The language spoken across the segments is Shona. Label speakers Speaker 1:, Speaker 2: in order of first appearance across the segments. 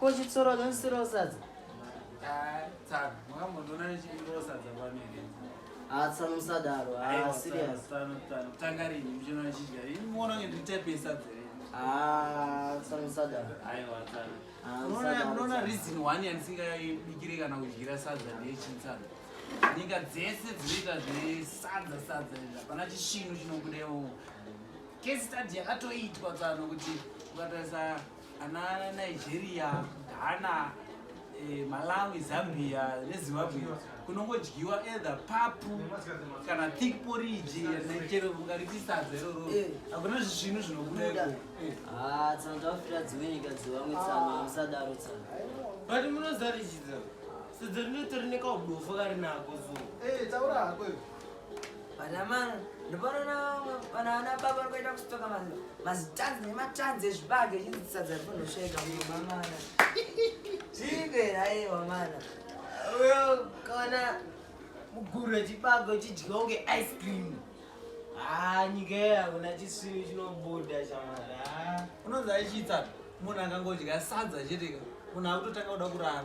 Speaker 1: Ko chitsoro chonsiro sadza. Ah, tsano. Mwakamboona nechindiro sadza pano here? Ah, tsano musadaro. Ah, serious. Tsano, tsano. Tanga
Speaker 2: rini muchino chidya. Ini muona nge nditepe sadza here? Ah,
Speaker 1: tsano musadaro. Aiwa, tsano.
Speaker 2: Ah, musadaro. Munoona reason one yandisingabikire kana kudyira sadza ndeyechintsano. Nyika dzese dzinoita zvesadza sadza izvi. Hapana chisvinu chinobudewo. Case study yakatoitwa tsano kuti ukatarisa ana nigeria ghana eh, malawi zambia nezimbabwe kunongodyiwa either papu kana thick porridge nechero ungariti sadza iroro Eh. hakuna zvisvinu zvinobuda Buda. ikoko Eh. Ah, tsano
Speaker 1: tafira dzimwe nyika dzivamwe tsano hamusadaro tsano but
Speaker 3: munozarichidza sedza rinotori nekaudofa kari nako so Eh, taura hako iwe.
Speaker 2: Vanamana
Speaker 4: ndopanoona vana baba vanoita kustoka mazitanzi nematanzi ezvibage zvinzisadza rinonoshaika mamana zviipera aiwa mana uyo
Speaker 3: kaona muguru wechibago chidya kunge ice cream haa ah, nyika iyo hakuna chisviri chinobuda chamara ah. unonzi aichiitsa
Speaker 2: munhu akangodya sadza cheteka munhu akutotanga kuda kurara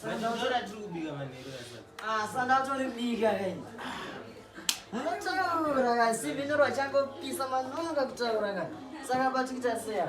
Speaker 3: Sandora tiri kubika
Speaker 1: manheru asati. Ah, sandora tori bika kai. Munotaura kai, si vino rwachangopisa manonoka kutaura kai. Saka batikuita seya.